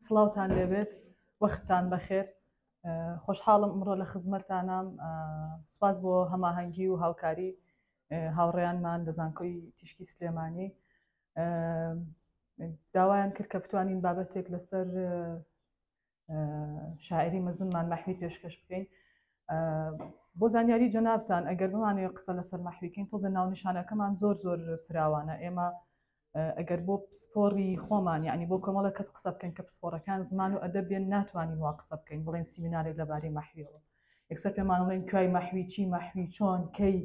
سڵاوتان لێبێت وەختان بەخێر خۆشحاڵم ئمڕۆ لە خزمەتانام سپاس بۆ هەماهەنگی و هاوکاری هاوڕێیانمان لە زانکۆی تیشکی سلێمانی داوایان کرد کە بتوانین بابەتێک لەسەر شاعری مەزنمان مەحوی پێشکەش بکەین بۆ زانیاری جەنابان ئەگەر بمانەوە قسە لەسەر مەحویکەین تۆزە ناونیشانەکەمان زۆر زۆر فراوانە ئێمە ئەگەر بۆ پسپۆری خۆمان یعنی بۆ کۆمەڵە کەس قسە بکەین کە پسپۆرەکان زمان و ئەدە بێن ناتوانین وا قسە بکەین بڵێن سیمینارێک لەبارەی مەحویەوە یەکسەر پێمانڵێن کوای مەحوی چی مەحوی چۆن کەی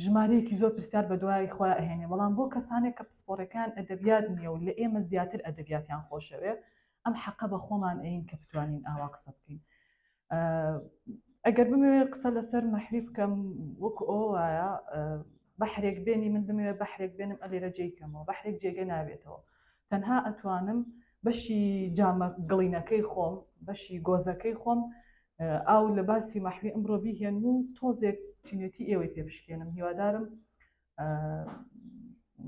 ژمارەیەکی زۆر پرسیار بە دوای خۆی ئەهێنێ بەڵام بۆ کەسانێک کە پسپۆڕەکان ئەدەبیات نییە و لە ئێمە زیاتر ئەدەبیاتیان خۆشەوێ ئەم حەقە بە خۆمان ئەین کە بتوانین ئاوا قسە بکەین ئەگەر بمەوێ قسە لەسەر مەحوی بکەم وەکو ئەو وایە بەحرێک بێنی من بمەوێ بەحرێک بێنم ئەلێرە جێیکەمەوە بەحرێک جێگە نابێتەوە تەنها ئەتوانم بەشی جامە گڵینەکەی خۆم بەشی گۆزەکەی خۆم ئاو لە باسی مەحوی ئەمڕۆ بیهێن و تۆزێک چینێتی ئێوەی پێ بشکێنم هیوادارم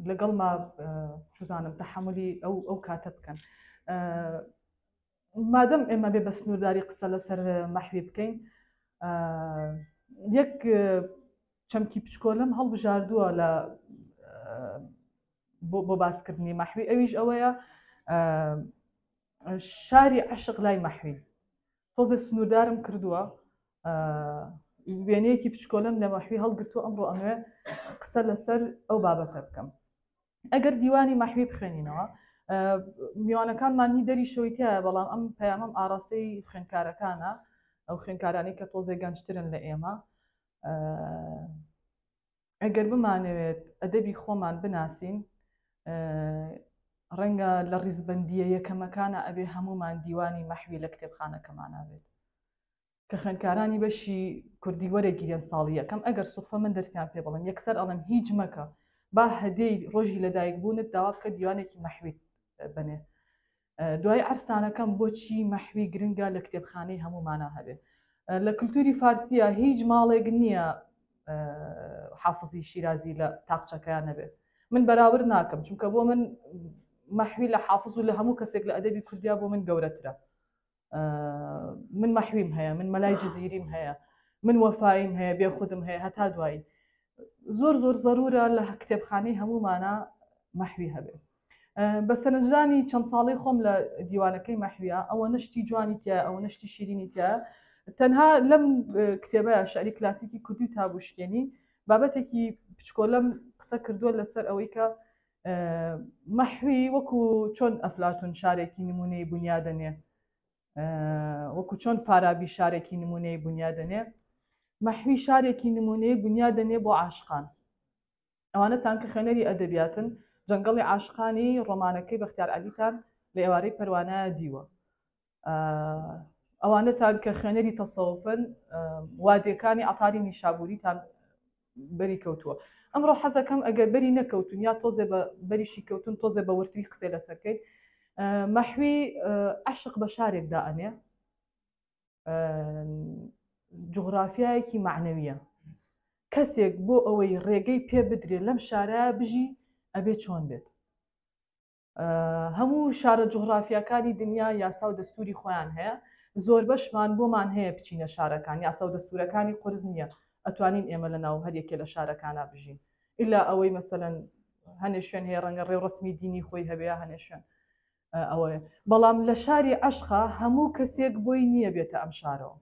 لەگەڵ ما چزانم تەحملی ئەو ئەو کاتە بکەن مادەم ئێمە بێ بە سنوورداری قسە لەسەر مەحوی بکەین یەک چەمکی پچکۆلم هەڵبژاردووە لە بۆ باسکردنی مەحوی ئەویش ئەوەیە شاری عشق لای مەحوی تۆزە سنووردارم کردووە وێنەیەکی پچکۆلم لە مەحوی هەڵگرتو ئەمڕۆ ئەمێ قسە لەسەر ئەو بابەتە بکەم ئەگەر دیوانی مەحوی بخوێنینەوە میوانەکانمان هی دەری شەویتە بەڵام ئەم پەیامەم ئاراستەی خوێنکارەکانە ئەو خوێنکارانی کە تۆزێ گەنجترن لە ئێمە ئەگەر بمانەوێت ئەدەبی خۆمان بناسین ڕەنگە لە ڕیزبندیە یەکەمەکانە ئەبێ هەمومان دیوانی مەحوی لە کتێبخانەکەمانە بێت کە خوێندکارانی بەشی کوردی وەرەگیرێن ساڵی یەکەم ئەگەر سوفە من دەرسیان پێ بڵم یەکسەر ئەڵم هیچ مەکە با هەدەی ڕۆژی لەدایک بوونت داوا بکە دیوانێکی مەحویت بنێ دوای عرسانەکەم بۆچی مەحوی گرنگە لە کتێبخانەی هەمومانە هەبێ لە کللتوری فارسیە هیچ ماڵێک نییە حافزی شیرازی لە تاقچەکەیان نەبێت من بەراورد ناکەم چونکە بۆ من مەحوی لە حافز و لە هەموو کەسێک لە ئەدەبی کوردیا بۆ من گەورەترە من مەحویم هەیە من مەلای جززیریم هەیە من وەفایم هەیە بێ خودم هەیە هەتا دوایی زۆر زۆر زەرورە لە کتێبخانەی هەمومانە مەحوی هەبێ بە سەرنجدانی چەند ساڵی خۆم لە دیوانەکەی مەحویە ئەوە نشتی جوانی تیا ئەوە نشتی شیرینی تیا تەنها لەم کتێبە شعری کلاسیکی کوردی تابوشکێنی بابەتێکی پچکۆلم قسە کردووە لەسەر ئەوەی کە مەحوی وەکو چۆن ئەفلاتون شارێکی نمونەی بنیا دەنێ وەکو چۆن فارابی شارێکی نمونەی بنیا دەنێ مەحوی شارێکی نمونەی بنیا دەنێ بۆ عاشقان ئەوانە تانکە خوێنەری ئەدەبیاتن جەنگەڵی عاشقانی ڕۆمانەکەی بەختیار علیتان لە ئێوارەی پەروانە دیوە ئەوانەتان کە خوێنەری تەسەوفن وادێکانی عتاری نیشابوریتان بەری کەوتووە ئەمڕۆ حەزەکەم ئەگەر بەری نەکەوتون یا تۆزێ بە بەریشی کەوتن تۆزێ بە ورتری قسێ لەسەرکەیت مەحوی عشق بە شارێکدا ئەنێ جغرافیایەکی معنەویە کەسێک بۆ ئەوەی ڕێگەی پێ بدرێت لەم شارە بژی ئەبێ چۆن بێت هەموو شارە جوغرافیاکانی دنیا یاسا و دەستوری خۆیان هەیە زۆر بەشمان بۆمان هەیە بچینە شارەکان یاسا و دەستورەکانی قرس نییە ئەتوانین ئێمە لە ناو هەریەکێ لە شارەکانە بژین ئللا ئەوەی مەسەن هەنێ شوێن هەیە ڕەنگە ڕێ ڕسمی دینی خۆی هەبێ هەنێ شوێن ئەوەیە بەڵام لە شاری عشقا هەموو کەسێک بۆی نییە بێتە ئەم شارەوە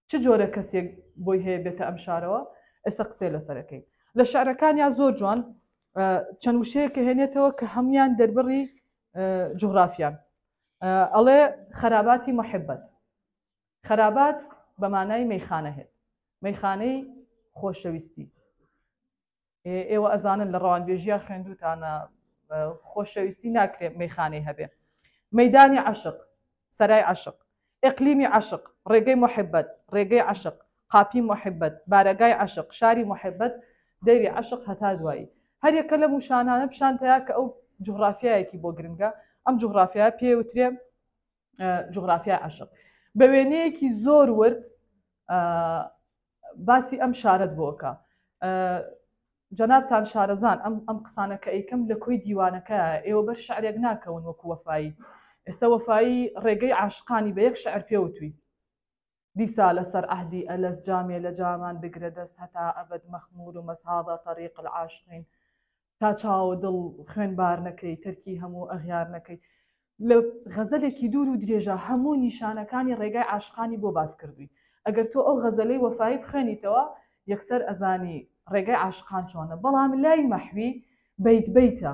چ جۆرە کەسیەک بۆی هەیە بێتە ئەم شارەوە ئێستا قسەی لەسەرەکەی لە شعرەکانیا زۆر جوان چەند وشەیە کە هێنێتەوە کە هەموان دەربڕی جوغرافیان ئەڵێ خەراباتی محبەت خەرابات بە مانای مەیخانە هێت مەیخانەی خۆشەویستی ئێوە ئەزانن لە ڕەوانبێژیا خوێندوتانە خۆشەویستی ناکرێت مەیخانەی هەبێ مەدانی عشق سەرای عشق ئەقلیمی عشق ڕێگەی محبەت ڕێگەی عشق قاپی محبەت بارەگای عشق شاری محبەت دەوی عشق هەتا دوایی هەریەکە لە موشانانە پیشانتەیە کە ئەو جغرافیایەکی بۆ گرنگە ئەم جغرافیا پێوترێ جغرافیا عشق بە وێنەیەکی زۆر ورد باسی ئەم شارەت بۆکە جەنابان شارەزان ئەم ئەم قسانە کە ئەیکەم لە کۆی دیوانەکە ئێوە بەر شعرێک ناکەون وەکو وەفایی ئێستا وەفایی ڕێگەی عاشقانی بە یەک شعر پێوتوی دیسا لەسەر عەهدی ئەلەس جامێ لە جامان بگرە دەست هەتا ئەبەد مەخمور و مەسهادا تەریق العاشقین تا چاو و دڵ خوێن بار نەکەی تەرکی هەموو ئەغیار نەکەی لە غەزەلێکی دوور و درێژە هەموو نیشانەکانی ڕێگای عاشقانی بۆ باس کردووی ئەگەر تۆ ئەو غەزەلەی وەفایی بخوێنیتەوە یەکسەر ئەزانی ڕێگای عاشقان چۆنە بەڵام لای مەحوی بەیت بەیتە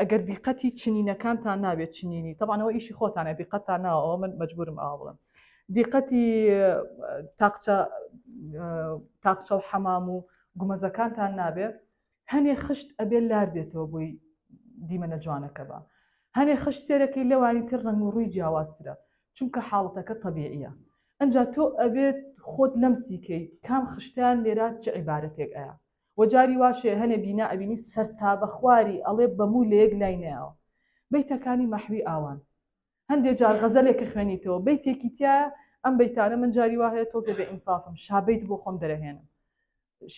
ئەگەر دیقەتی چنینەکانتان نابێت چنینی تەبانەوە ئیشی خۆتانە دیقەتان ناوە من مجبورم ئاوا بڵم دیقەتی تاقچە تاقچە و حەمام و گومەزەکانتان نابێت هەنێ خشت ئەبێ لار بێتەوە بۆی دیمەنە جوانەکە بە هەنێ خشت سێرەکەی لەوانی تر ڕنگ و ڕووی جیاوازترە چونکە حاڵەتەکە طببیعە ئەجا تۆ ئەبێت خۆت لەم سیکەی کام خشتیان لێرا چ عیبارەتێک ئەیە وە جاری واشێ هەنێ بینا ئەبینی سەرتابە خواری ئەڵێ بە موو لەیەک لای نەیاوە بەیتەکانی مەحوی ئاوان هەندێ جار غەزەلێ کە خوێنیتەوە بەیتێکی تیایە ئەم بەیتانە من جاری وا هەیە تۆزێ بێ ئینسافم شابەیت بۆ خۆم دەرەهێنم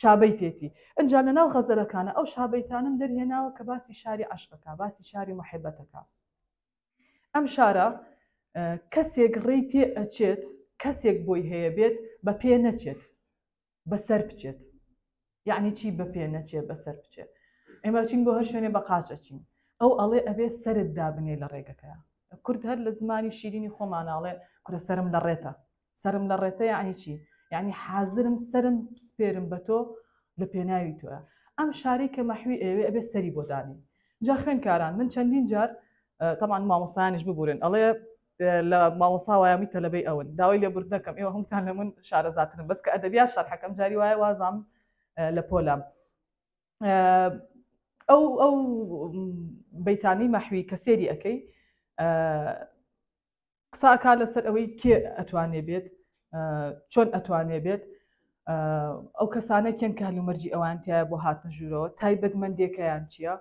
شابەیتێتی ئەجا لە ناو غەزەلەکانە ئەو شابەیتانم دەرهێناوە کە باسی شاری عشقەکە باسی شاری مححبەتەکە ئەم شارە کەسێک ڕێی تێ ئەچێت کەسێک بۆی هەیە بێت بە پێ نەچێت بەسەر بچێت یعنی چی بە پێ نەچێ بەسەر بچێت ئێمە چین بۆ هەر شوێنێ بە قاچە چین ئەو ئەڵێ ئەبێ سرت دابنێ لە ڕێگەکەیە کورد هەر لە زمانی شیرینی خۆمانناڵێ کورە سرم لە ڕێتە سرم لە ڕێتە یعنی چی یعنی حازرم سرم سپێرم بە تۆ لە پێناوی تۆە ئەم شاری کە مەحوی ئەوێ ئەبێ سەری بۆ دانی جا خوێنکاران من چەندین جار تەمان مامۆستانیش ببورن ئەڵێ لە مامۆسا وایامی تەلەبەی ئەون داوای لێبوردنەکەم ئێوە هەمووتان لە من شارەزاترن بەس کە ئەدەبیات شەرحەکەم جاری وایە وازام لە پۆلام ئەو ئەو بەیتانی مەحوی کە سێری ئەەکەی قساکە لەسەر ئەوەی کێ ئەتوانێ بێت چۆن ئەتوانێ بێت ئەو کەسانە کێن کە هەلومەرجی ئەوانتیایە بۆ هاتن ژوورەوە تایبەتمەندێکەیان چییە؟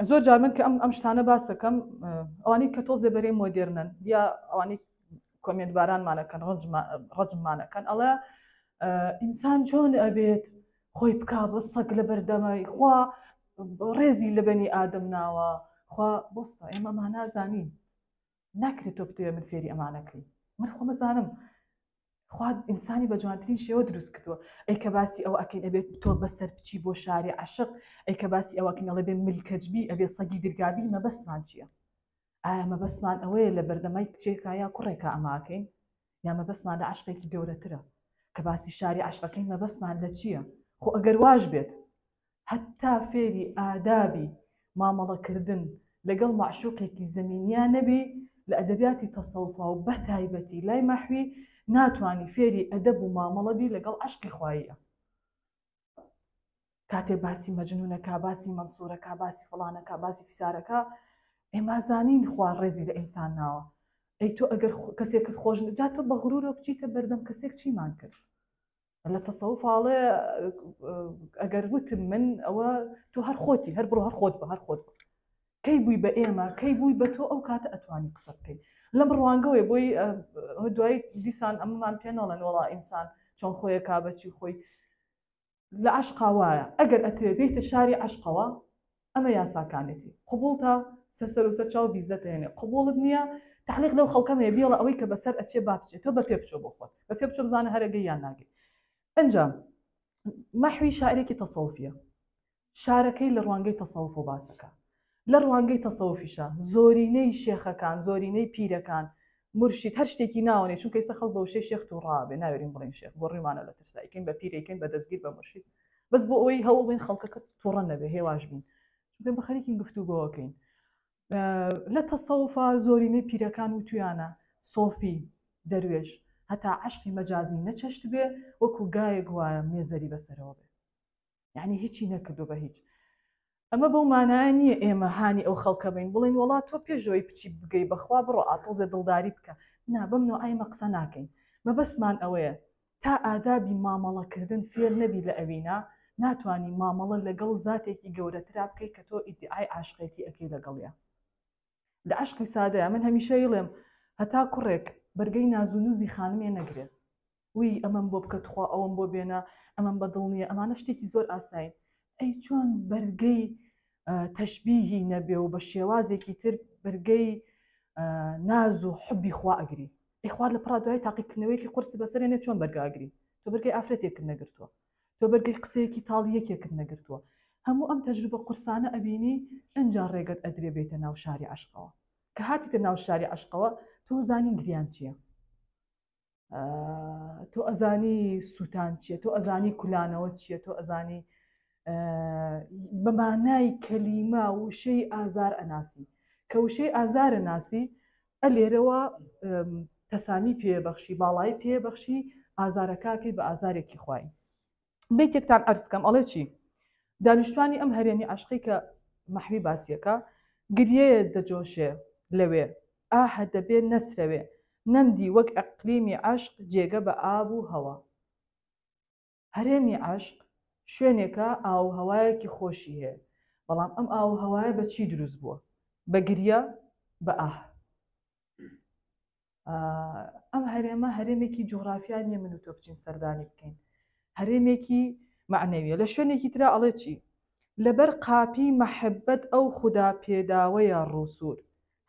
زۆر جار من کە ئەم ئەم شتانە باسەکەم ئەوانی کە تۆزێ بەرەی مۆدێرنن یا ئەوانی کۆمێنتبارانمانەکەن ڕەجممانەکەن ئەڵە ئینسان چۆن ئەبێت خۆی بک بە سەگ لە بەردەمای خوا ڕێزی لە بەنی ئادەم ناوە خوا بۆستە ئێمە مانازانین ناکرێت تۆ بتەوێت من فێری ئەمانەکەی من خۆمەزانم خواد ئینسانی بە جوانترین شێوە دروست کردووە ئەی کە باسی ئەو ئەکەین ئەبێت تۆ بەسەر بچی بۆ شاری عشق ئەی کە باسی ئەوەکنەڵێ بێ ملکەجبی ئەبێ سەگی درگابی مەبەستمان چییە؟ ئایا مەبەستمان ئەوەیە لە بەردەمای کچێکا یا کوڕێکا ئەماکەین یا مەبەستمان لە عەشقێکی گەورەترە کە باسی شاری عشقەکەی مەبەستمان لە چییە خۆ ئەگەر واش بێت هەتا فێری ئادابی مامەڵەکردن لەگەڵ معشوقێکی زمینیا نەبی لە ئەدەبیاتی تەسەوفا و بە تایبەتی لای مەحوی ناتانی فێری ئەدەب و مامەڵەبی لەگەڵ عشقی خواییە کاتێ باسی مەجنونەکە باسی مەمسورەکە باسی فڵانەکە باسی فسارەکە ئێمازانین خوا ڕێزی لە ئینسان ناوە ئەی تۆ ئەگەر کەسێکت خۆش نجات تۆ بە غرورۆ بچیتە بەردەم کەسێک چیمان کرد لە تەسەو فاڵێ ئەگەر وتم من ئەوە تۆ هەر خۆتی هەر بڕۆ هەر خۆت بە هەر خۆت بە کەی بووی بە ئێمە کەی بووی بە تۆ ئەو کاتە ئەتوانی قسە بکەین لەم ڕوانگەوەی بۆی دوای دیسان ئەممان پێ ناڵێن وڵا ئینسان چۆن خۆیە کا بەچی خۆی لە عشقا وایە ئەگەر ئەتوێ بێتە شاری عشقەوە ئەمە یاساکانێتی قوبول تا سەرسەر و سەر چاو ویزەتە هێنێ قوبولت نییە تعلیق لەو خەڵکەم هەیە بێڵە ئەوەی کە بەسەر ئەچێ با بچێت تۆ بە پێ بچۆ بۆ خۆت بە پێ بچۆ بزانە هەرەگەی یان ناگەی ئەنجام مەحوی شاعرێکی تەسەوفە شارەکەی لە ڕوانگەی تەسەوف و باسەکە لە ڕوانگەی تەسەوفیشە زۆرینەی شێخەکان زۆرینەی پیرەکان مرشید هەر شتێکی ناوەێ چونکە ئێستا خەڵ بە وشەی شێخ توڕابێ ناوێرین بڵین شێخ گۆڕیمانە لە ترسایکەین بە پیرێکەین بە دەستگیر بە مرشید بەس بۆ ئەوەی هەوڵین خەڵکەکە توڕە نەبێ هێواش بین بێ بە خەریکین گفتوگۆکەین لە تەسەوفا زۆرینەی پیرەکان و تویانە سۆفی دەروێش هەتا عشقی مەجازی نەچەشت بێ وەکو گایەک وایە مێزەری بەسەرەوە بێ یعنی هیچی نەکردو بە هیچ ئەمە بەو مانایە نییە ئێمە هانی ئەو خەڵکە بین بڵین وڵات تۆ پێشەوەی بچی بگەی بەخوا بڕۆ ئاتۆزێ دڵداری بکە نا بەم نوعای مە قسە ناکەین مەبەستمان ئەوەیە تا ئادابی مامەڵەکردن فێر نەبی لە ئەوینا ناتانی مامەڵە لەگەڵ زاتێکی گەورەترا بکەیت کە تۆ ئیدعای عاشقێتی ئەەکەی لەگەڵە لە عشقی سادەیە من هەمیشە یڵێم هەتا کوڕێک بەرگەی نازونوزی خانمێ نەگرێت وی ئەمەم بۆ بکە تخوا ئەوەم بۆ بێنە ئەمەم بەدڵ نییە ئەمانە شتێکی زۆر ئاساین ئەی چۆن بەرگەی تەشببیهی نەبێ و بە شێوازێکی تر بەرگەی ناز و حبی خوا ئەگری ئەی خوار لە پڕا دوای تاقیکردنەوەیکی قرسی بەسەرێنێ چۆن بەرگاگری تۆ بەرگی ئافرەتێکرد نەگرتووە تۆ بەرگەی قسەیەکی تاڵی یەکێکت نەگرتووە هەموو ئەم تەجروبە قورسانە ئەبینی ئنجا ڕێگەت ئەدرێ بێیتە ناو شاری عەشقەوە کە هاتیتە ناو شاری عەشقەوە تۆ زانی گریان چیە تۆ ئەزانی سووتان چیە تۆ ئەزانی کولانەوە چیە تۆ ئەزانی بەمانای کەلیما وشەی ئازار ئەناسی کە وشەی ئازارە ناسی ە لێرەوە تەسامی پێ بەخشی باڵایی پێ بەخشی ئازارەکاکەی بە ئازارێکی خوای بیتێکتان ئەرزکەم ئەڵێ چی دانیشتوانی ئەم هەرێمی عشقی کە مەحوی باسیەکە گریە دەجۆشێ لەوێ ئاهە دەبێ نەسرەوێ نەمدی وەک ئەقلیمی عشق جێگە بە ئاب و هەوا هەرێمی عەشق شوێنێکە ئاووهەوایەکی خۆشی هەیە، بەڵام ئەم ئاووهەوایە بە چی دروست بووە؟ بە گریە، بە ئاه. ئەم هەرێمە هەرێمێکی جوغرافیا نییە من و تۆ بچین سەردانی بکەین، هەرێمێکی مەعنەویە. لە شوێنێکی ترا ئەڵێ چی؟ لەبەر قاپی مەحەببەت ئەو خودا پێداوەیە ڕووسوور،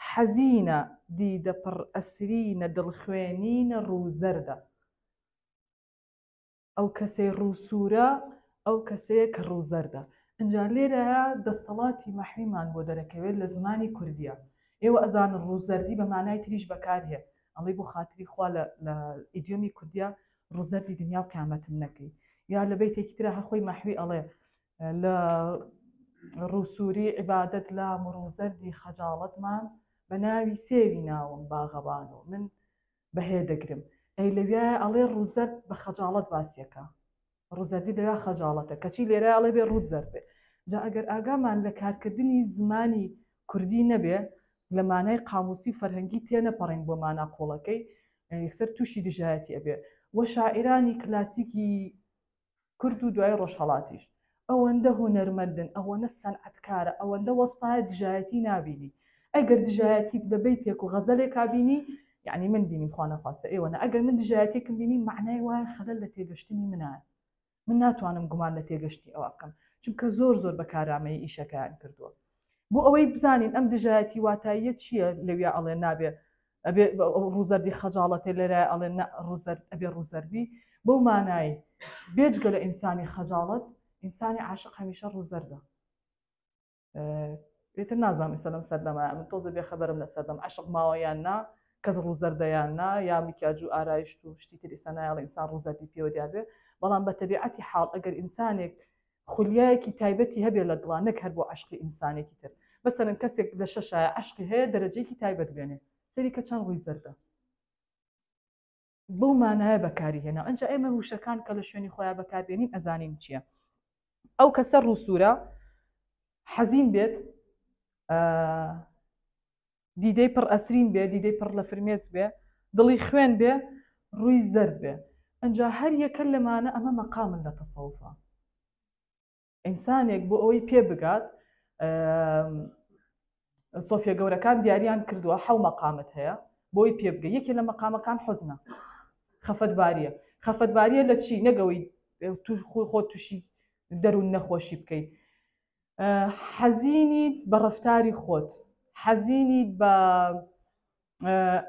حەزینە، دیدە پڕ ئەسرینە، دڵخوێنینە، ڕووزەردە. ئەو کەسەی ڕوو سوورە ئەو کەسەیە کە ڕوو زەردە. ئینجا لێرەیا دەستەڵاتی مەحویمان بۆ دەرەکەوێت لە زمانی کوردیا. ئێوە ئەزانن ڕوو زەردی بە مانای تریش بەکار هێ. ئەڵی بۆ خاتری خوا لە لە ئیدیۆمی کوردیا ڕوو زەردی دنیا و قیامەتم نەکەی. یا لە بەیتێکی ترا هەر خۆی مەحوی ئەڵێ لە ڕوو سووری عیبادەت لام و ڕوو زەردی خەجاڵەتمان بە ناوی سێوی ناوم باغەبان و من بە هێ دەگرم ئەی لەویایە ئەڵێ ڕووزەرد بە خەجاڵەت باسیەکە ڕوزەردی لەویا خەجاڵەتە کەچی لێرە ئەڵێ بێ ڕوود زەرد بێ جا ئەگەر ئاگامان لە کارکردنی زمانی کوردی نەبێ لە مانای قاموسی و فەرهەنگی تێنەپەڕین بۆ مانا قۆڵەکەی یەکسەر تووشی دژایەتی ئەبێ وە شاعرانی کلاسیکی کورد و دوای ڕۆژهەڵاتیش ئەوەندە هونەرمەندن ئەوەنە سەنعەتکارە ئەوەندە وەستایە دژایەتی نابینی ئەگەر دژایەتیت بە بەیتێک و غەزەلێکا بینی یعنی من بینیم خوا نەخواستە ئێوە نە ئەگەر من دژایەتێکم بینی معنای وایە خەلەل لە تێگەشتنی منە من ناتوانم گومان لە تێگەشتی ئەوە بکەم چونکە زۆر زۆر بە کارامەیی ئیشەکەیان کردووە بۆ ئەوەی بزانین ئەم دژایەتی واتاییە چییە لەویا ئەڵێ نابێ ئەبێ ڕووزەردی خەجاڵەتێ لێرای ئەڵێ نە ڕووزەرد ئەبێ ڕووزەربی بەو مانایی بێجگە لە ئینسانی خەجاڵەت ئینسانی عاشق هەمیشە ڕووزەردە پێتر نازانام ئێستا لەم سەردەمە من تۆزە بێ خەبەرم لە سەردەم عشق ماوە یان نا کەس ڕووزەردەیان نا یا میکیاجو ئارایشت و شتی تر ئیسانایڵ ئینسان ڕووزەردی پێوە دیابێ بەڵام بە تەبیعەتی حاڵ ئەگەر ئینسانێک خولیایەکی تایبەتی هەبێ لە دڵا نەک هەر بۆ عەشقی ئینسانێکی تر مەسەلەن کەسێک لە شەشایە عەشقی هەیە دەرەجەیەکی تایبەت بێنێ سەیری کە چەند ڕووی زەردە بەو مانایە بەکاری هێنا ئەنج ئێمە وشەکان کە لە شوێنی خۆیان بەکاربێنین ئەزانین چییە ئەو کەسە ڕووسورە حەزین بێت دیدەی پڕ ئەسرین بێ دیدەی پڕ لە فرمێس بێ دڵی خوێن بێ ڕووی زەرد بێ ئەجا هەر یەکە لەمانە ئەمە مەقامن لە تەسەوفە ئینسانێک بۆ ئەوەی پێ بگات سۆفیە گەورەکان دیاریان کردووە حەو مەقامت هەیە بۆی پێ بگە یەکێ لە مەقامەکان حزنە خەفەتباریە خەفەتباریە لە چی نەگەوەی توش خۆی خۆ تووشی دەروون نەخۆشی بکەیت حەزینیت بە ڕەفتاری خۆت حەزینیت بە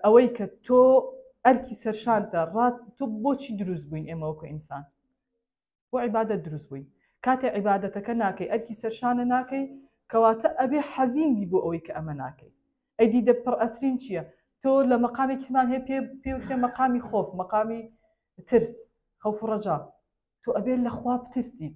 ئەوەی کە تۆ ئەرکی سەرشانتە ڕات تۆ بۆچی دروست بووین ئێمەوەکو ئینسان بۆ عیبادە دروست بووین کاتێ عیباەتەکە ناکەی ئەرکی سەرشانە ناکەی کەواتە ئەبێ حەزین بی بۆ ئەوەی کە ئەمە ناکەی ئەدی دە پڕ ئەسرین چییە تۆ لە مەقامێکمان هەیە پێ پێوتێ مەقامی خۆف مەقامی ترس خەوف ڕەجا تۆ ئەبێت لەخوا بترسیت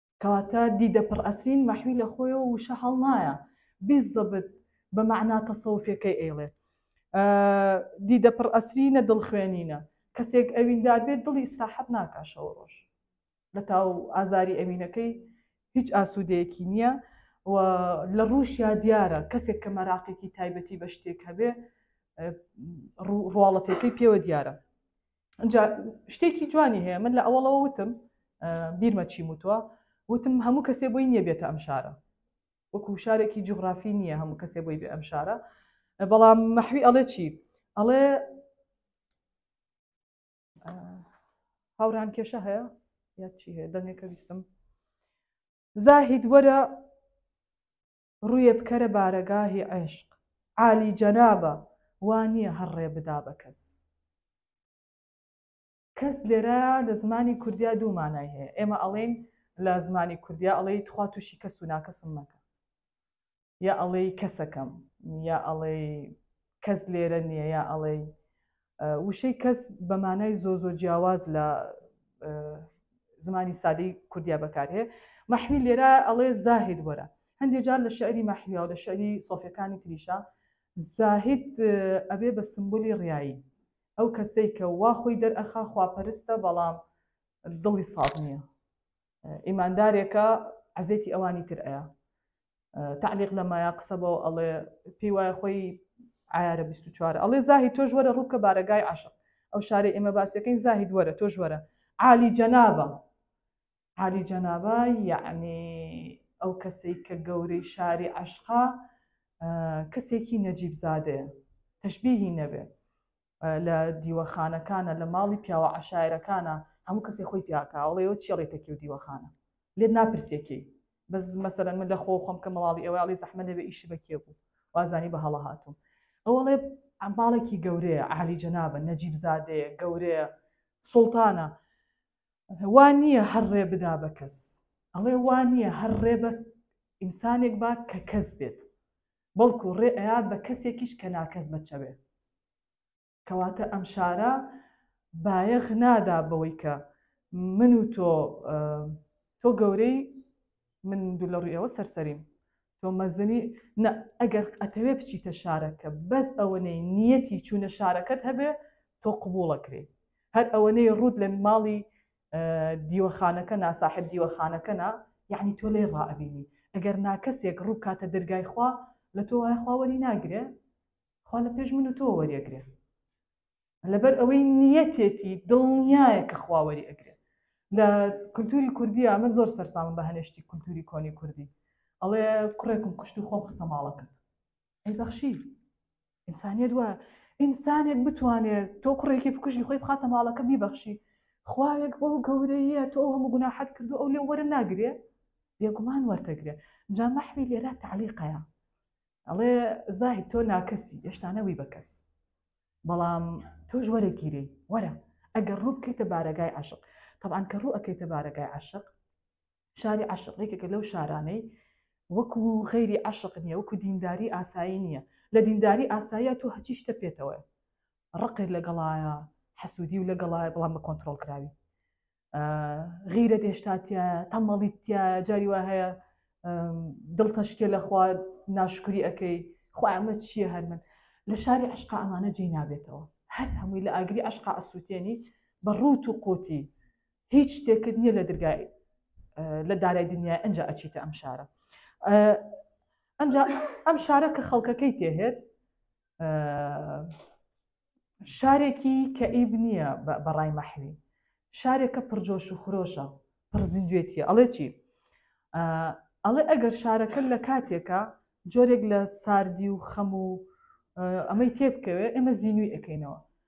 کەواتە دیدە پڕئەسرین مەحوی لە خۆیەوە وشە هەڵنایە بیزەبت بە مەعنا تەسەوفێکەی ئەیڵێ دیدە پڕئەسرینە دڵخوێنینە کەسێک ئەویندار بێت دڵی ئیسراحەت ناکا شەوە ڕۆژ لە تاو ئازاری ئەوینەکەی هیچ ئاسوودەیەکی نییە و لە ڕووشیا دیارە کەسێک کە مەراقێکی تایبەتی بە شتێک هەبێ ڕواڵەتەکەی پێوە دیارە جا شتێکی جوانی هەیە من لە ئەوڵەوە وتم بیرمە چیم وتوە وتم هەموو کەسێ بۆی نییە بێتە ئەم شارە وەکو شارێکی جوغرافی نییە هەموو کەسێ بۆی بێ ئەم شارە بەڵام مەحوی ئەڵێ چی ئەڵێ هاوران کێشە هەیە یا چی هەیە دەنێکە ویستم زاهید وەرە ڕویێ بکەرە بارەگاهی عێشق عالی جەنابە وا نیە هەر ڕێ بدا بە کەس کەس لێرە لە زمانی کوردیا دوو مانای هەیە ئێمە ئەڵێین لە زمانی کوردیا ئەڵێی تخوا تووشی کەس و ناکەسم مەکە یا ئەڵێی کەسەکەم یا ئەڵێی کەس لێرە نییە یا ئەڵێی وشەی کەس بە مانای زۆ زۆ جیاواز لە زمانی سادەی کوردیا بەکارهێ مەحوی لێرە ئەڵێ زاهید وەرە هەندێک جار لە شعری مەحویا و لە شعری سۆفەکانی تریشە زاهید ئەبێ بە سمبولی ڕایی ئەو کەسەی کە وا خۆی دەرئەخا خواپەرستە بەڵام دڵی ساڵ نییە ئیماندارێکە عزێتی ئەوانی تر ئەیە تعلیق لە مایا قسە بەەوە ئەڵێ پێی وایە خۆی ئایارە 24 ئەڵێ زاهی تۆش وەرە ڕووکە بارەگای عاشق ئەو شارە ئێمە باسەکەین زاهید وەرە تۆش وەرە عالی جەنابە عالی جەنابە یعنی ئەو کەسێک کە گەورەی شاری عشقا کەسێکی نەجیب زادەیە تەشببیهی نەبێ لە دیوەخانەکانە لە ماڵی پیاوە عشاعرەکانە هەموو کەسی خۆی پیاکەڵەوە چێڵی تەکی و دیوەخانە لێت ناپرسێکی بەس مەسەرەن من لە خۆ خۆم کە مەواڵی ئەوواڵی زەحمە لەبێ ئیشی بەکێ بوو وازانی بە هەڵە هاتوو ئەوڵێ ئەمباڵێکی گەورەیە عالی جەنابە نەجیب زادەیە گەورەیە سوڵتانە وا نییە هەر ڕێ بدا بە کەس ئەڵێ وا نییە هەر ڕێ بە ئینسانێک با کە کەس بێت بەڵکو ڕێ ئەیات بە کەسێکیش کە ناکەس بەچەوێ. کەواتە ئەم شارە بایەخ نادا بەوەی کە من و تۆ تۆ گەورەی من دوو لە ڕوویەوە سەرسەریم تۆ مەزنی نە ئەگەر ئەتەوێ بچیتە شارەکە بەس ئەوەنەی نیەتی چوونە شارەکەت هەبێ تۆ قوبوڵەکرێ هەر ئەوەنەی ڕوت لە ماڵی دیوەخانەکە ناساحب دیوەخانەکە نا یعنی تۆ لێ ڕائبینی ئەگەر ناکەسێک ڕوو کاتە دەرگای خوا لە تۆ وای خواوەری ناگرێ خوا لە پێش من و تۆ وەریەگرێ لەبەر ئەوەی نیەتێتی دڵنیایە کە خواوەری ئەگرێ لە کولتوری کوردی ئەمە زۆر سەرسامە بە هەنێشتی کولتوری کۆنی کوردی ئەڵێ کوڕێکم کوشت و خۆ خستە ماڵەکەت ئەی بەخشی ئینسانیت وە ئینسانێک بتوانێت تۆ کوڕێکی بکوژی خۆی بخاتە ماڵەکە بیبەخشی خوایەک بۆ گەورەیە تۆ هەموو گوناحەت کردو ئەو لێ وەرە ناگرێ بێگومان وەرتەگرێ جا مەحوی لێرا تعلیقەیە ئەڵێ زاهی تۆ ناکەسی هێشتانەوی بەکەس بەڵام تۆش وەرە گیرەی وەرە ئەگەر ڕوو بکەیتە بارەگای عشق طبعاان کە ڕوو ئەەکەیتە بارەگای عشق شاری عەشق یەکێکە لەو شارانەی وەکو غەیری عەشق نییە وەکو دینداری ئاسایی نییە لە دینداری ئاساییە تۆ هەچی شتە پێتەوە ڕقێ لەگەڵایە حەسوودی و لەگەڵایە بەڵام بە کۆنتترۆل کراوی غیرە دێشتاتە تەمەڵیتە جاری وە هەیە دڵ تەشکێ لەخوا ناشکری ئەەکەی خوامە چییە هەر من لە شاری عشقا ئەمانە جێ نابێتەوە هەر هەمووی لە ئاگری عشقا ئەسووتێنی بە ڕوت و قوتی هیچ شتێکت نییە لە درگای لە دارای دنیای ئەنج ئەچیتە ئەم شارە ئەنج ئەم شارە کە خەڵکەکەی تێهێت شارێکی کە ئیب نییە بەڕای مەحوی شارێکە پڕجۆش و خرۆشە پڕزیندوێتیە ئەڵێ چی ئەڵێ ئەگەر شارەکە لە کاتێکە جۆرێک لە ساردی و خەم و ئەمەی تێبکەوێ ئێمە زیینوی ئەەکەینەوە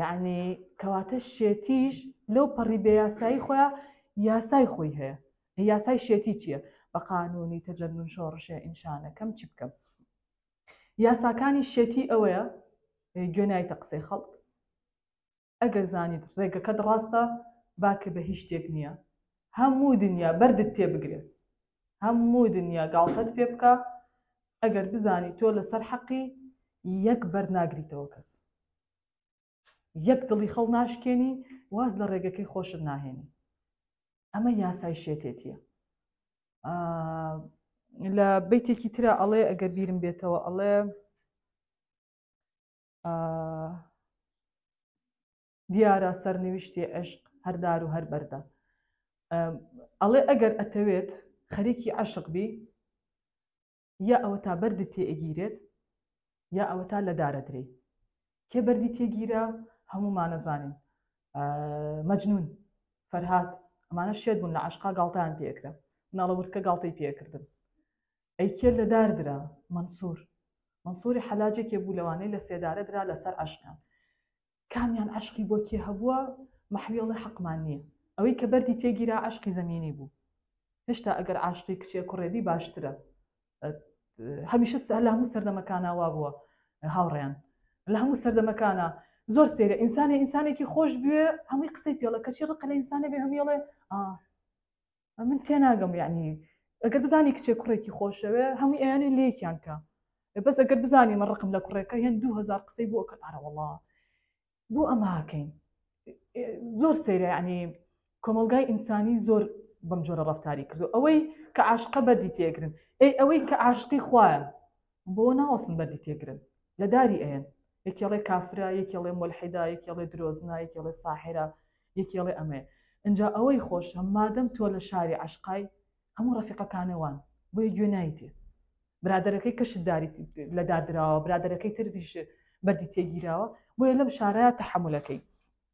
یعنی کەواتە شێتیش لەو پەڕی بێ یاسایی خۆیان یاسای خۆی هەیە یاسای شێتی چییە بە قانونی تەجەنون شۆڕشێ ئینشانەکەم چی بکەم یاساکانی شێتی ئەوەیە گوێنایتە قسەی خەڵک ئەگەر زانیت ڕێگەکەت ڕاستە باکە بە هیچ شتێک نییە هەموو دنیا بەردت تێ بگرێت هەموو دنیا گاڵتەت پێ بکە ئەگەر بزانی تۆ لەسەر حەقی یەک بەرناگریتەوە کەس یەک دڵی خەڵ ناشکێنی واز لە ڕێگەکەی خۆشت ناهێنی ئەمە یاسای شێتێتیە لە بیتێکی ترە ئەڵێ ئەگەر بیرم بێتەوە ئەڵێ دیارە سەرنویشتی عشق هەردار و هەر بەردە ئەڵێ ئەگەر ئەتەوێت خەریکی عشق بی یا ئەوەتا بەردت تێ ئەگیرێت یا ئەوەتا لە دار ئەدرێی کێ بەردی تێگیرا هەموومان ئەزانین مەجنون فەرهاد ئەمانە شێت بوون لە عەشقا گاڵتەیان پێ ئەکرا مناڵە وردکە گاڵتەی پێ ئەکردن ئەی کێ لە دار درا مەنسوور مەنسووری حەلاجێکێ بوو لەوانەی لە سێدارە درا لەسەر عەشقان کامیان عەشقی بۆ کێ هەبووە مەحوی ئەڵێ حەقمان نییە ئەوەی کە بەردی تێگیرا عەشقی زەمینی بوو هێشتا ئەگەر عاشقی کچێ کوڕێبی باشترە هەمیشە لە هەموو سەردەمەکانە وا بووە هاوڕێیان لە هەموو سەردەمەکانە زۆر سێرە ئینسانی ئینسانێکی خۆش بوێ هەمووی قسەی پێڵە کەچی ڕق لە ئینسانە بێ هەمیڵێ من تێناگەم یعنی ئەگەر بزانی کچێ کوڕێکی خۆشەوێ هەمووی ئەیانێ لێکیان کە بەس ئەگەر بزانی مە ڕقم لە کوڕێکە هێن دوهزار قسەی بۆ کە ئارەوەڵا بۆ ئەماکەین زۆر سەیرە ینی کۆمەلگای ئینسانی زۆر بەم جۆرە ڕفتاری کردو ئەوەی کە عاشقە بەردی تێگرن ئەی ئەوەی کە عاشقی خوان بۆ ناوەستن بەردی تێگرن لە داری ئەیەن یەکی ئەڵێ کافرە یەکی ئەڵێ مولحیدە یەکی ئەڵێ درۆزنە یەکی ئەڵێ ساحیرە یەکی ئەڵێ ئەمەیە ئینجا ئەوەی خۆشە مادەم تۆ لە شاری عەشقای هەموو ڕەفیقەکانێ وان بۆیە گوێ نایتێ برادەرەکەی کەشت داری لە داردراوە برادەرەکەی تردیش بەردی تێگیراوە بۆیە لەم شارەیە تەحملەکەی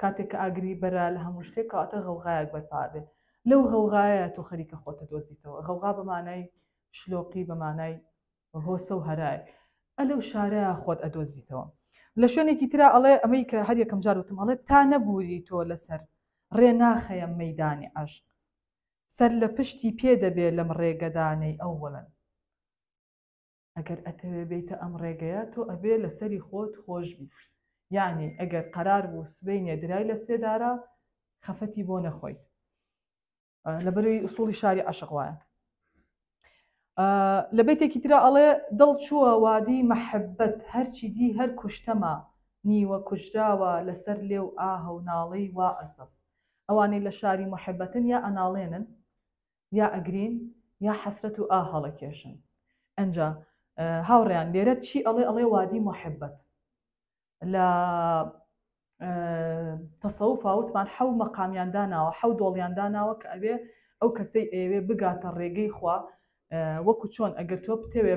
کاتێک کە ئاگری بەرە لە هەموو شتێک کەواتە غەوغایەک بەرپا ئەبێ لەو غەوغایە تۆ خەریکە خۆت ئەدۆزیتەوە غەوغا بە مانای شلۆقی بە مانای هۆسە و هەرای ئە لەو شارە خۆت ئەدۆزیتەوە لە شوێنێکی ترا ئەڵێ ئەمەی کە هەر یەکەم جار وتم ئەڵێ تا نەبووری تۆ لەسەر ڕێ ناخەیە مەدانی عەشق سەر لە پشتی پێ دەبێ لەم ڕێگەدانەی ئەوەن ئەگەر ئەتەوێ بێیتە ئەم ڕێگەیە تۆ ئەبێ لەسەری خۆت خۆش بیت یعنی ئەگەر قەرار بوو سبینێ درای لە سێدارە خەفەتی بۆ نەخۆیت لە بەروی ئوسوڵی شاری عشق وایە لە بێتێکی تررا ئەڵێ دڵ چووە وادی مەحبەت هەرچی دی هەر کوشتەما نیوە کوژراوە لەسەر لێو ئاهە و ناڵەی وا ئەسەف ئەوانەی لە شاری محبەتن یا ئەناڵێنن یا ئەگرین یا حەسرەت و ئاه هەڵەکێشن ئەنجا هاوڕێیان لێرە چی ئەڵێ ئەڵێ وادی محبەت لە تەسەو فاوتمان حەو مەقامیان داناوە حەو دۆڵیان داناوە کە ئەوێ ئەو کەسەی ئەوێ بگاتە ڕێگەی خوا وەکو چۆن ئەگەر تۆ بتەوێ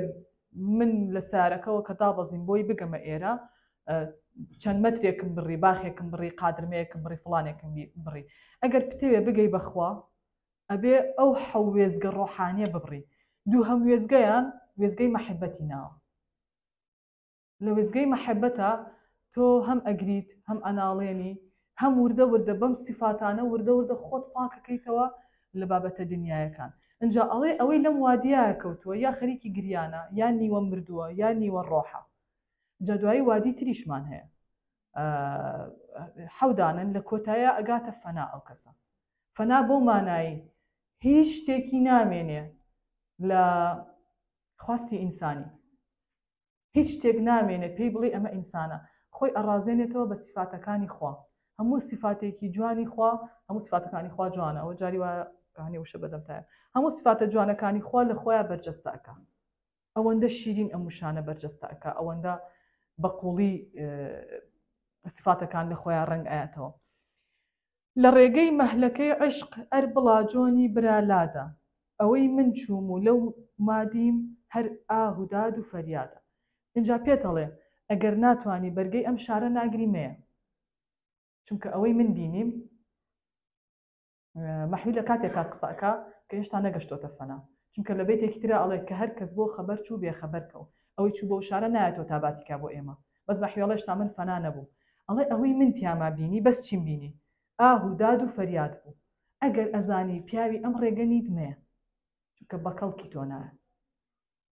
من لە سارەکەەوە کە دابەزین بۆی بگەمە ئێرە چەند مەترێکم بڕی باخێکم بڕی قادرمەیەکم بڕی فلانێکم بڕی ئەگەر پتەوێ بگەی بەخوا ئەبێ ئەو حەو وێستگە ڕۆحانیە ببڕی دووهەم وێستگەیان وێستگەی مەحبەتی ناوە لە وێستگەی مەحبەتە تۆ هەم ئەگریت هەم ئەناڵێنی هەم وردە وردە بەم سیفاتانە وردە وردە خۆت پاکەکەیتەوە لە بابەتە دنیایەکان ئەجا ئەڵێ ئەوەی لەم وادیە کەوتووە یا خەریکی گریانە یا نیوە مردووە یا نیوە ڕۆحە جا دوایی وادی تریشمان هەیە حەو دانن لە کۆتایە ئەگاتە فەنا ئەو کەسە فەنا بۆ مانایی هیچ شتێکی نامێنێ لە خواستی ئینسانی هیچ شتێک نامێنێ پێی بڵی ئەمە ئینسانە خۆی ئەڕازێنێتەوە بە سیفاتەکانی خوا هەموو سیفاتێکی جوانی خوا هەموو سفاتەکانی خوا جوانە ئەوە جاری وانێ وشە بەدەمتایە هەموو سفاتە جوانەکانی خوا لە خۆیان بەرجەستەکە ئەوەندە شیرین ئەم وشانە بەرجەستە ئەکا ئەوەندە بە قوڵی سفاتەکان لە خۆیان ڕنگ ئاەتەوە لە ڕێگەی مەهلەکەی عشق ئەر بڵا جۆنی برا لادە ئەوەی من چووم و لەو مادیم هەر ئاهوداد و فەریادە اینجا پێتەڵێ ئەگەر ناتانی بەرگەی ئەم شارە ناگریمەیە چونکە ئەوەی من بینیم مەحوی لە کاتێکا قسەکە کە هێشتا نەگەشتۆتە فەنا چونکە لە بێتێکی تررا ئەڵێ کە هەر کەس بۆ خەبەر چوو بێ خەبەرکەوە ئەوەی چوو بۆ شارە نایەتۆ تا باسیکا بۆ ئێمە بەس بە حێڵێش تا من فەنا نەبوو ئەڵێ ئەوەی من تیاما بینی بەس چیم بینی ئاه و داد و فەریاد بوو ئەگەر ئەزانی پیاوی ئەم ڕێگە نیت مەیە چونکە بەکەڵکی تۆ نایە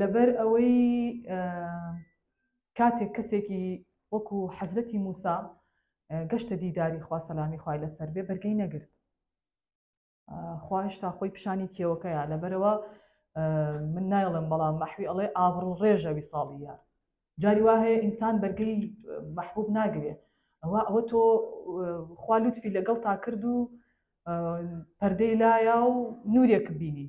لەبەر ئەوەی کاتێک کەسێکی وەکو حەزرەتی موسا گەشتە دیداری خوا سەلامی خوای لەسەر بێ بەرگەی نەگرت خواهشتا خۆی پیشانی کێوەکەیە لەبەرەوە من نایڵم بەڵام مەحوی ئەڵێ ئابڕ و ڕێژە ویساڵی یار جاری وا هەیە ئینسان بەرگەی مەحبوب ناگرێ ئەوە ئەوە تۆ خوا لوتفی لەگەڵ تا کرد و پەردەی لایە و نورێک بینی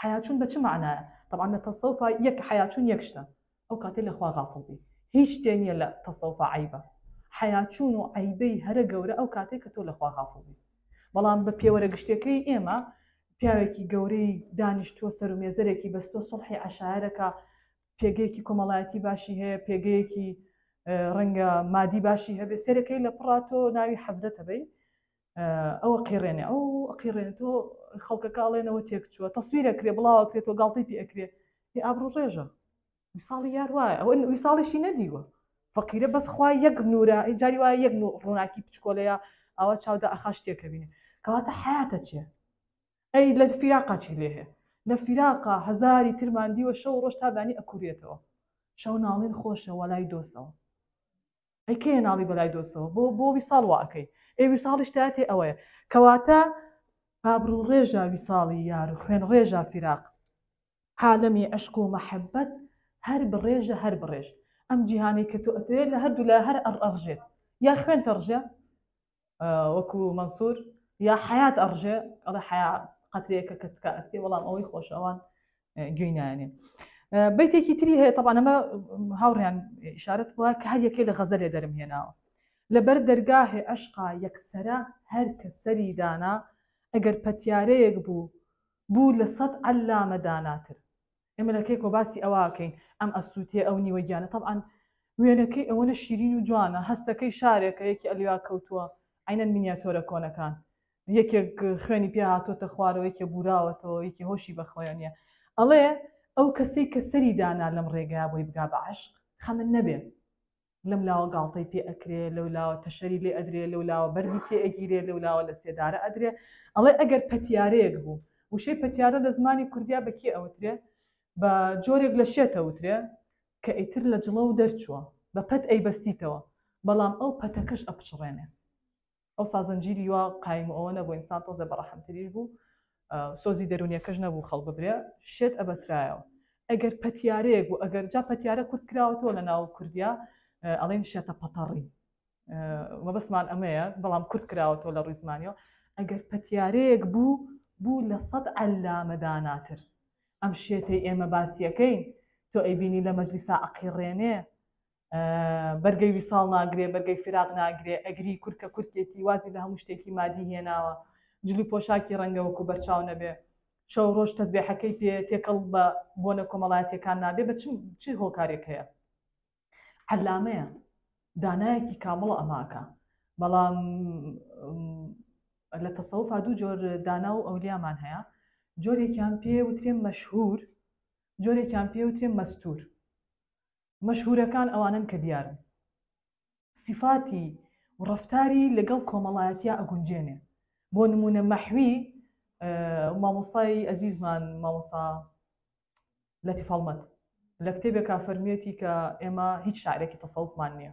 حەیاچوون بە چ مەعنایە؟ تەبعەن لە تەسەوفا یەک حەیاچوون یەک شتە ئەو کاتەی لە خوا غافڵ بی هیچ شتێ نییە لە تەسەوفا عەیبە حەیاچوون و عەیبەی هەرە گەورە ئەو کاتێک کە تۆ لە خوا غافڵ بی بەڵام بە پێوەرە گشتەکەی ئێمە پیاوێکی گەورەی دانیشتووە سەر و مێزەرێکی بەستۆ سڵحی عەشایەرەکە پێگەیەکی کۆمەڵایەتی باشی هەیە پێگەیەکی ڕەنگە مادی باشی هەبێ سەرەکەی لە پڕاتۆ ناوی حەزرەتەبەی ئەو قیڕێنێ ئەو قیڕێن تۆ خەڵکەکە ئەڵێنەوە تێک چووە تەسویرە کرێ بڵاوە کرێت تۆ گاڵتی پێ ئەکرێ هی ئابرو ڕێژە وساڵی یار وایە ئەوە وساڵیشی نەدیوە فەقیرە بەس خوا یەک نورە جاری وایە یەک ڕووناکی بچکۆلەیە ئەوە چاودا ئەخاش تێکەبینێ کەواتە حیاتە چێ ئەی لە فیراقا چی لێ هەیە لە فیراقا هەزاری ترمان دیوە شەو ڕۆژ تا بانی ئەکوورێتەوە شەو ناڵین خۆشە وەلای دۆستەوە ئەی کێ ناڵی بەلای دۆستەوە بۆ بۆ ویساڵ واکەی ئێ ویساڵیش تاتێ ئەوەیە کەواتە ئابرو ڕێژا ویساڵی یار و خوێن ڕێژا فیراق عالەمی عشق و مەحەبەت هەر بڕێژە هەر بڕێژ ئەم جیهانی کە تۆ ئەتەوێت لە هەردوو لە هەر ئەڕ ئەڕژێت یا خوێن تەڕژە وەکو مەسوور یا حیات ئەڕژێ ئەڵێ حیا قەترێکە کە تکاکتی وەڵام ئەوەی خۆش ئەوان گوینانێ بیتێکی تری هەیە تەبانەمە هاوڕیان شارەت وە کە هەر یەکەی لە غەزە لێ دەرم هێناوە لەبەر دەرگاهێ عشقا یەکسرە هەر کە سەری دانا ئەگەر پەتیارەیەک بوو بوو لە سەد ئەلامە داناتر ئێمە لە کەیکۆ باسی ئەوەکەین ئەم ئەسووتێ ئەو نیوە گیانە تەعاان وێنەکەی ئەوەنە شیرین و جوانە هەستەکەی شارێکە یەکی ئەلیا کەوتووە عینەن مینیاتۆرە کۆنەکان یەکێک خوێنی پێ هاتۆتە خوارەوە یەکێ بوراوەتەوە یەکی هۆشی بەخۆیان نیە ئەڵێ ئەو کەسەی کە سەری دانا لەم ڕێگا بۆی بگا بە عشق خەمن نەبێ لەم لاوە گاڵتەی پێ ئەکرێ لەو لاوە تەشەری لێ ئەدرێ لەو لاوە بەردی تێ ئەگیرێ لەو لاوە لە سێدارە ئەدرێ ئەڵێ ئەگەر پەتیارەیەک بوو وشەی پەتیارە لە زمانی کوردیا بەکێ ئەوترێ بە جۆرێک لە شێتە وترێ کە ئیتر لە جڵە و دەرچووە بە پەت ئەی بەستیتەوە بەڵام ئەو پەتەکەش ئەپچڕێنێ ئەو سازنجیری وا قایم و ئەوە نەبوو ئینسان تۆزێ بەڕەحمتریش بوو سۆزی دەرونیەکەش نەبوو خەڵ ببرێ شێت ئەبەسرایەوە ئەگەر پەتیارەیەک بوو ئەگەر جا پەتیارە کورت کراوەەوە لە ناو کوردیا ئەڵێن شێتە پەتەڕی مەبەستمان ئەمەیە بەڵام کورت کراوەەوە لە ڕیزمانەوە ئەگەر پەتیارەیەک بوو بوو لە سەد ئەلامەداناتر ئەم شێتەی ئێمە باسیەکەین تۆ ئەیبینی لە مەجلیسا ئەقیڕێنێ بەرگەی ویساڵ ناگرێ بەرگەی فراغ ناگرێ ئەگری کورکە کورتێتی وازی لە هەموو شتێکی مادی هێناوە جلی پۆشاکی ڕەنگە وەکو بەرچاو نەبێ شەو ڕۆژ تەزبێحەکەی پێ تێکەڵ بە بۆنە کۆمەڵاتەکان نابێ بە چ هۆکارێک هەیە عەلامەیە دانایەکی کامڵ ئەماکە بەڵام لە تەسەوفا دوو جۆر دانا و ئەولیامان هەیە جۆرێکیان پێ وترێن مەشهور جۆرێکیان پێ وترێن مەستور مەشهورەکان ئەوانەن کە دیارن سیفاتی و ڕەفتاری لەگەڵ کۆمەڵایەتیا ئەگونجێنێ بۆ نمونە مەحوی مامۆستای ئەزیزمان مامۆستا لەتی فەڵمەت لە کتێبێکا فەرمیەتی کە ئێمە هیچ شارێکی تەسەوفمان نییە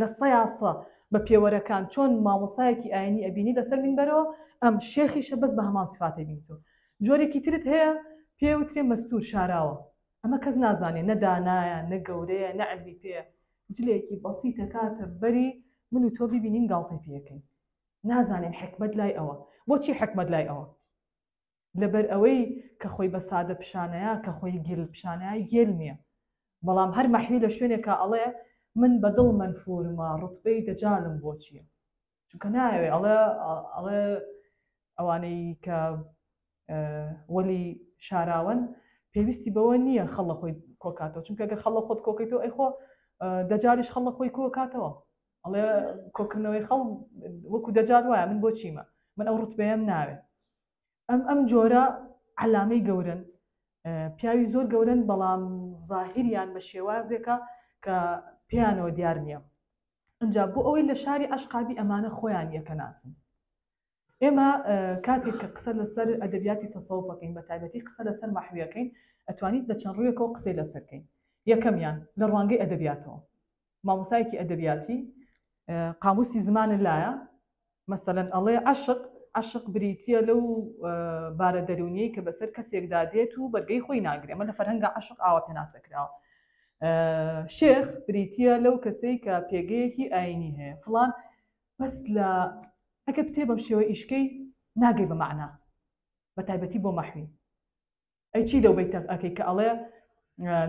لە سەیاسە بە پێوەرەکان چۆن مامۆستایەکی ئاینی ئەبینی لەسەر مینبەرەوە ئەم شێخیشە بەس بە هەمان سفات ئەیبینیتەوە جۆرێکی ترت هەیە پێ وترێ مەستور شاراوە ئەمە کەس نازانێ نە دانایە نە گەورەیە نە عەلمی پێیە جلێکی بەسیتە کاتە بەری من و تۆ ببینین گاڵتەی پێەکەین نازانین حکمت لای ئەوە بۆچی حکمت لای ئەوە لەبەر ئەوەی کە خۆی بە سادە پیشانەیە کە خۆی گێل پیشانەیە گێل نییە بەڵام هەر مەحوی لە شوێنێکە ئەڵێ من بە دڵ منفورمە ڕتبەی دەجالم بۆچیە چونکە نایەوێ ئەڵێ ئەڵێ ئەوانەی کە وەلی شاراوەن پێویستی بەوە نییە خەڵە خۆی کۆکاتەوە چونکە گەر خەڵە خۆت کۆکەیتەوە ئەی خۆ دەجاریش خەڵە خۆی کۆکاتەوە ئەڵێ کۆکردنەوەی خەڵ وەکو دەجار وایە من بۆچیمە من ئەو ڕوتبەیەم ناوێ ئەم ئەم جۆرە عەلامەی گەورەن پیاوی زۆر گەورەن بەڵام ظاهریان بە شێوازێکە کە پێیانەوە دیار نییە ئەجا بۆ ئەوەی لە شاری ئەشقابی ئەمانە خۆیان یەکە ناسن ئێمە کاتێک کە قسە لەسەر ئەدەبیاتی تەسەوفەکەین بە تایبەتی قسە لەسەر مەحویەکەین ئەتوانیت لە چەند ڕوویەکەوە قسەی لەسەرکەین یەکەمیان لە ڕوانگەی ئەدەبیاتەوە مامۆستایەکی ئەدەبیاتی قاموسی زمانە لایە مەسەەن ئەڵێ عشق عشق بریتە لەو بارە دەرونیەی کە بەسەر کەسێکدا دێت و بەرگەی خۆی ناگرێمە لە فەرهنگە عشق ئاوا پێناسەکراوە شێخ بریتە لەو کەسەی کە پێگەیەکی ئاینی هەیە فلان بەس لە ئەگە بتێ بەم شێوە ئیشکەی ناگەی بە معنا بە تایبەتی بۆ مەحوی ئەی چی لەو بەیتە ئەکەی کە ئەڵێ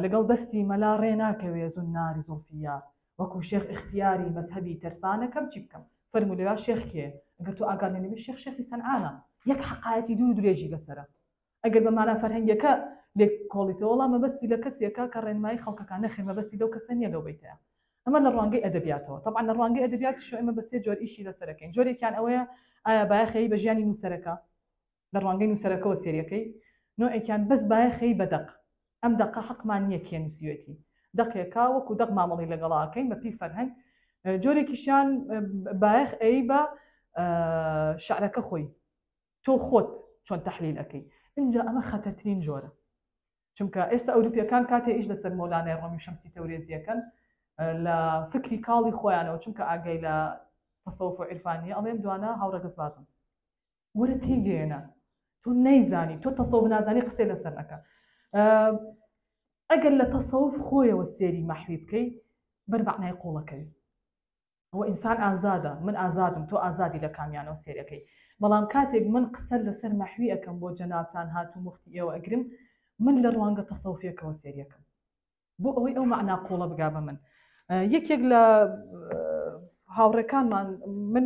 لەگەڵ دەستی مەلا ڕێ ناکەوێ زناری زوڵفیار وەکو شێخ ئختیاری مەذهبی تەرسانەکەم چی بکەم فەرمو لەوا شێخ کێ ئەگەر تۆ ئاگار لێنەبی شێخ شێخی سەنعانە یەک حقایەتی دوو درێژی لەسرە ئەگەر بە مانا فەرهەنگەکە لێ کۆڵیتەوە وڵام مەبەستی لە کەسێکە کە ڕێنمایی خەڵکەکان نەخێن مەبەستی لەو کەسە نیە لەو بیتەیە ئەمە لە ڕوانگەی ئەدەبیاتەوە تەبا لە ڕوانگەی ئەدەبیات شو ئمە بەسێ جۆر ئیشی لەسەرەکەین جۆرێکیان ئەوەیە ئایا بایەخەیی بە ژیانی نووسەرەکە لە ڕوانگەی نووسەرەکەوە سێریەکەی نۆعێکیان بەس بایەخەی بە دەق ئەم دەقە حەقمان نییە کێ نووسیوێتی دەقێکە وەکو دەق مامەڵەی لەگەڵا ئەکەین بە پێی فەرهەنگ جۆرێکیشیان بایەخ ئەی بە شعرەکە خۆی تۆ خۆت چۆن تحلیل ئەەکەی اینجا ئەمە خەتەرترین جۆرە چونکە ئێستا ئەوروپیەکان کاتێ ئیش لەسەر مۆلانای ڕۆمی شەمسی تەورێزیەکەن لە فکری کاڵی خۆیانەوە چونکە ئاگەی لە تەسەوف و عیرفانیە ئەڵێن دوانە هاوڕەگەز بازن وەرە تێگەێنە تۆ نەیزانی تۆ تەسەوف نازانی قسەی لەسەر ئەەکە ئەگەر لە تەسەوف خۆیەوە سێری مەحوی بکەی بەر بەعنای قوڵەکەی ئەوە ئینسان ئازادە من ئازادم تۆ ئازادی لە کامیانەوە سێرەکەی بەڵام کاتێک من قسە لەسەر مەحوی ئەەکەم بۆ جەنابان هات و مختی ئێوە ئەگرم من لە ڕوانگە تەسەوفەکەەوە سێریەکەم بۆ ئەوەی ئەو معنا قۆڵە بگا بە من یەکێک لە هاوڕێکانمان من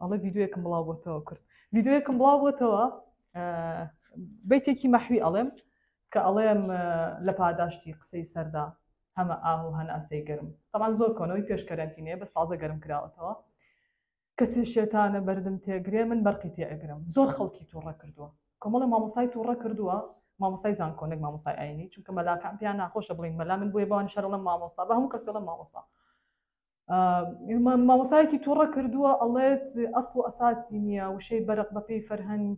ئەڵێ ڤیددیوەکم بڵاو بۆتەوە کرد ڤیددیوەکم بڵاو بۆتەوە بیتێکی مەحوی ئەڵێم کە ئەڵێم لە پاداشتی قسەی سەردا هەمە ئاه و هەناسەی گەرم تەمان زۆر کۆنەوەی پێش کەرەنتینەیە بەس تازە گەرم کراوەتەوە کەسێ شێتانە بەردم تێگرێ من بەرقی تێگرم زۆر خەڵکی تووڕە کردووە کۆمەڵە مامۆسای تووڕە کردووە مامۆسای زانکۆنێک مامۆسای ئاینی چونکە مەلاکان پێیان ناخۆشە بڵین مەلا من بۆیە بەوان شەرڵم مامۆستا بە هەموو کەسەڵم مامۆستا مامۆسایەکی تووڕە کردووە ئەڵێت ئەسڵ و ئەساسی نییە وشەی بەرق بەپی فەرهەنگ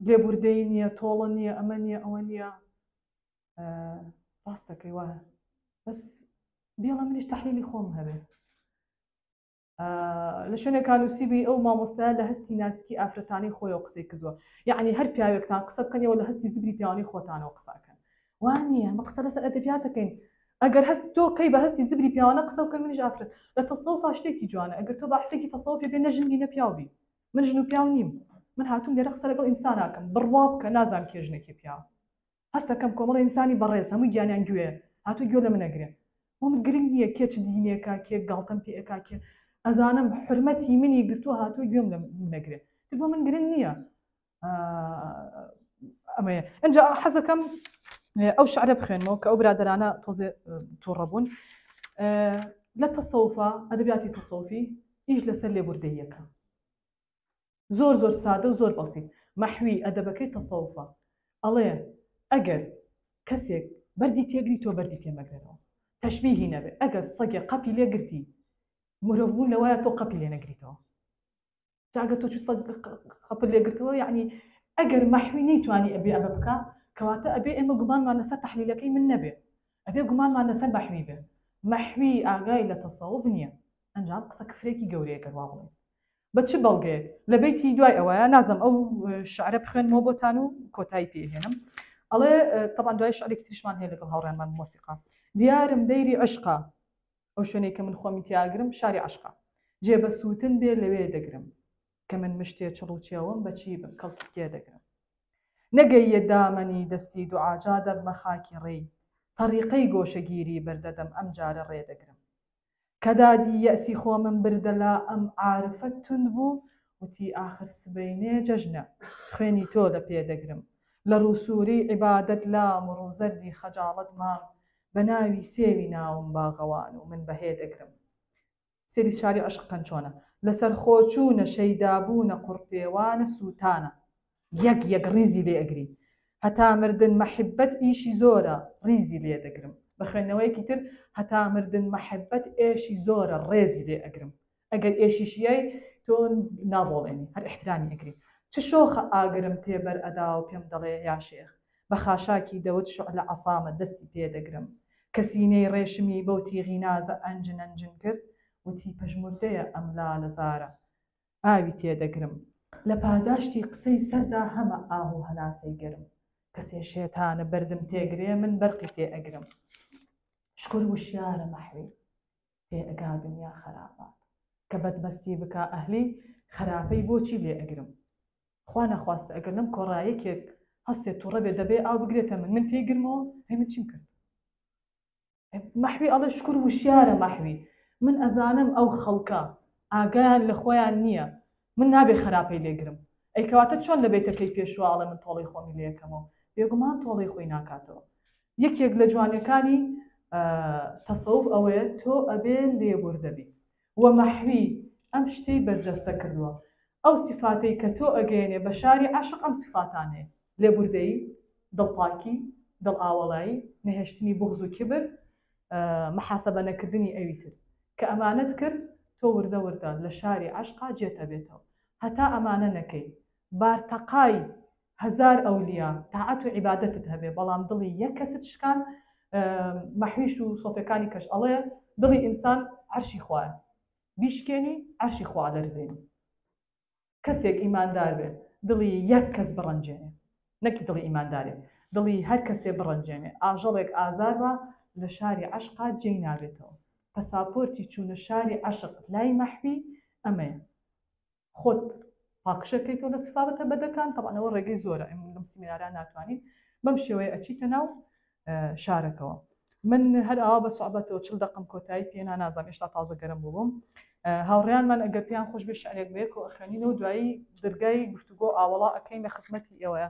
لێبوردەی نییە تۆڵە نییە ئەمە نییە ئەوە نییە ڕاستەکەی وایە بەس بێڵە منیش تحلیلی خۆم هەبێ لە شوێنێک کانوسیبی ئەو مامۆستای لە هەستی ناسکی ئافرەتانی خۆیەوە قسەی کردووە یعنی هەر پیاوێکتان قسە بکەنەوە لە هەستی زگری پیاوانی خۆتانەوە قساکەن وا نییە ئەمە قسە لەسەر ئەدەبیات دەکەین ئەگەر هەست تۆ کەی بە هەستی زبری پیاوانە قسە بکەن منیش ئافرەت لە تەسەوفا شتێکی جوانە ئەگەر تۆ بەحسێکی تەسەوفی بێ نە ژن بی نە پیاو بی من ژن و پیاو نیم من هاتووم لێرە قسە لەگەڵ ئینسان ناکەم بڕوا بکە نازانم کێ ژنە کێ پیاوە هەست دەکەم کۆمەڵ ئینسانی بەڕێز هەموو گیانیان گوێ هاتوو گوێ لە من ئەگرێ بۆ من گرنگ نییە کێ چ دینێکا کێ گاڵتەم پێ ئەکا کێ ئەزانم حرمەتی منی گرتووە هاتووە گوێم لە من نەگرێ تر بۆ من گرنگ نییە ئەمەیە ئەجا حەزەکەم ئەو شعرە بخوێنەوە کە ئەو برادرانە تۆزێ تووڕەبوون لە تەسەوفا ئەدەبیاتی تەسەوفی ئیش لەسەر لێبوردەیەەکە زۆر زۆر سادە و زۆر بەسییت مەحوی ئەدەبەکەی تەسەوفا ئەڵێ ئەگەر کەسێک بەری تێگری تۆ بەری تێمەگرەوە تەشببیهی نەبێت ئەگەر سەگێ قەپی لێگرتی مرۆڤبوون لەوایە تۆ قەپی لێ نەگریتەوە جاگە تۆ چ قەپل لێگرتەوە یعنی ئەگەر مەحوی نەیتوانی ئەبێ ئەمە بکە کەواتە ئەبێ ئێمە گومانمان لەسەر تحلیلەکەی من نەبێ ئەبێ گومانمان لەسەر مەحوی بێ مەحوی ئاگای لە تەسەوف نییە ئەنجام قسە کفرێکی گەورەیە گەروا بڵێ بە چ بەڵگەیە لە بیتی دوای ئەوەیە نازم ئەو شعرە بخوێنمەوە بۆتان و کۆتایی پێهێنم ئەڵێ تەبان دوای شعرێک تریشمان هەیە لەگەڵ هاوڕێنمان مۆسیقا دیارم دەیری عشقا ئەو شوێنەی کە من خۆمی تیاگرم شاری عشقا جێ بە سووتن بێ لەوێ دەگرم کە من مشتێ چڕوچێوم بەچی بم کەڵکی کێ دەگرم نەگەیە دامەنی دەستی دوعاجا دەبمە خاکی ڕێی تەڕیقەی گۆشەگیری بەردەدەم ئەم جارە ڕێ دەگرم کە دادی یەسی خۆمم بردە لا ئەم عارفە توند بوو وتی ئاخر سبەینێ جەژنە خوێنی تۆ لە پێ دەگرم لە ڕووسووری عیبادەت لام و ڕووزەردی خەجاڵەت مام بە ناوی سێوی ناوم باغەوان و من بە هێ دەگرم سێری شاری عەشق کەن چۆنە لە سەر خۆ چوونە شەیدا بوونە قوڕپێوانە سووتانە یەک یەک ڕیزی لێ ئەگری هەتا مردن مەحبەت ئیشی زۆرە ڕیزی لێ دەگرم بە خوێندنەوەیەکی تر هەتا مردن مەحبەت ئێشی زۆرە ڕێزی لێ ئەگرم ئەگەر ئێشیشیای تۆ نابۆڵێنی هەر ئیحترامی ئەکری. چ شۆخە ئاگرم تێ بەر ئەدا و پێم دەڵێ یا شێخ! بە خاشاکی دەوت شۆعلە عەسامە دەستی پێ دەگرم. کە سینەی ڕێشمی بەو تیغی نازە ئەنجن ئەنجن کرد، وتی پەژموردەیە ئەم لالە زارە. ئاوی تێ دەگرم. لە پاداشتی قسەی سەردا هەمە ئاه و هەناسەی گەرم. کە سێ شێتانە بەردم تێ گرێ من بەرقی تێ ئەگرم. شکور وشیارە مەحوی. پێ ئەگا دنیا خەرابات کە بەدمەستی بکا ئەهلی خەراپەی بۆچی لێ ئەگرم خوا نەخواست ئەگەر لەم کۆڕا یەکێک هەستێ توڕە بێ دەبێ ئاو بگرێتە من من تێی گرمەوە هەی من چیم کرد مەحوی ئەڵێ شکر وشیارە مەحوی من ئەزانم ئەو خەڵکە ئاگایان لە خۆیان نییە من نابێ خەراپەی لێ گرم. ئەی کەواتە چۆن لە بەیتەکەی پێشوا ئەڵێ من تۆڵەی خۆمی لێ ئەکەمەوە؟ بێگومان تۆڵەی خۆی ناکاتەوە. یەکێک لە جوانیەکانی تەسەوف ئەوەیە تۆ ئەبێ لێبوردە بیت و مەحوی ئەم شتەی بەرجەستە کردووە. ئەو سیفاتەی کە تۆ ئەگەیەنێ بە شاری عەشق ئەم سیفاتانەیە، لێبوردەیی، دڵپاکی، دڵئاوەڵایی، نەهێشتنی بوغز و کیبر، محاسبە نەکردنی ئەوی تر کە ئەمانەت کرد تۆ وردە وردە لە شاری عەشقا جێت ئەبێتەوە هەتا ئەمانە نەکەی بارتەقای هەزار ئەولیا تاعەت و عیبادەتت هەبێ بەڵام دڵی یەک کەست شکان مەحویش و سۆفەکانی کەش ئەڵێ دڵی ئینسان عەرشی خوایە بیشکێنی عەرشی خوا لەرزێنی کەسێک ئیماندار بێ دڵی یەک کەس بڕەنجێنێ نەکی دڵی ئیماندارێ دڵی هەر کەسێ بڕەنجێنێ ئاژەڵێک ئازار بە لە شاری عشقا جێی نابێتەوە پەساپۆرتی چوونە شاری عشق لای مەحوی ئەمەیە خۆت پاکشەکەیتەوە لە سفاوتە بەدەکان تەبانەوە ڕێگەی زۆرە ئەم سیمیناران ناتوانین بەم شێوەیە ئەچیتە ناو شارەکەوە من هەر ئاوا بە سوعبەتەوە چل دەقم کۆتایی پێنا نازم هێشتا تازە گەرم بووم هاوڕیانمان ئەگەر پێیان خۆش بێ شعرێک بێک و ئەخوێنین و دوایی دەرگای گفتوگۆ ئاوەڵا ئەەکەین لە خزمەتی ئێوەیە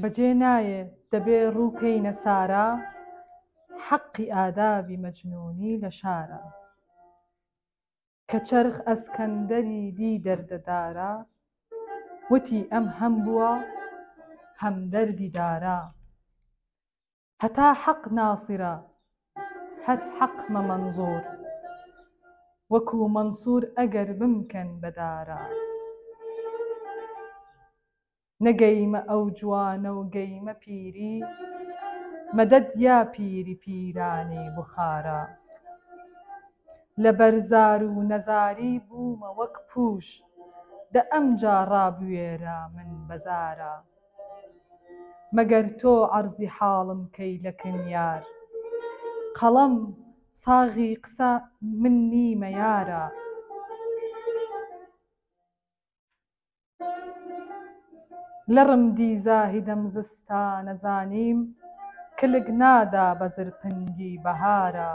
بەجێ نایێ دەبێ ڕوو کەینە سارا حەقی ئادابی مەجنوونی لە شارا کە چەرخ ئەسکەندەری دی دەردە دارا وتی ئەم هەم بووە هەمدەردی دارا. هەتا حەق ناسرە هەر حەق مە مەنزور وەکو مەنسور ئەگەر بمکەن بە دارا نەگەیمە ئەو جوانە و گەیمە پیری مەدەد یا پیری پیرانی بوخارا لەبەر زار و نەزاری بوومە وەک پوش دە ئەمجا ڕابوێرە من بە زارا. مەگەر تۆ عەرزی حاڵم کەی لە کن یار قەڵەم ساغی قسە من نیمە یارا. لڕم دی زاهیدم زستانە زانیم کلک نادا بە زرپنگی بەهارا.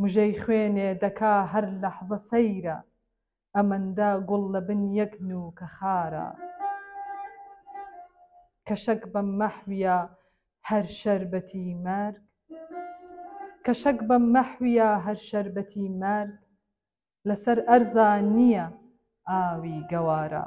مژەی خوێنێ دەکا هەر لەحزە سەیرە ئەمەندە گوڵ لە بن یەک نووکە خارە کە شەک بەم مەحویە هەر شەربەتی مەرگ کە شەک بەم مەحویە هەر شەربەتی مەرگ لەسەر ئەرزا نییە ئاوی گەوارە.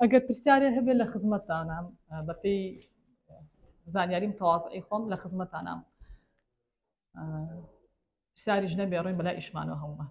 ئەگەر پرسیارێ هەبێت لە خزمەتدانام بەپێی زانیاریم تەوازعی خۆم لە خزمەتانام پرسیاریش نەبێ ڕێن بەلا ئیشمانەوە هەمومان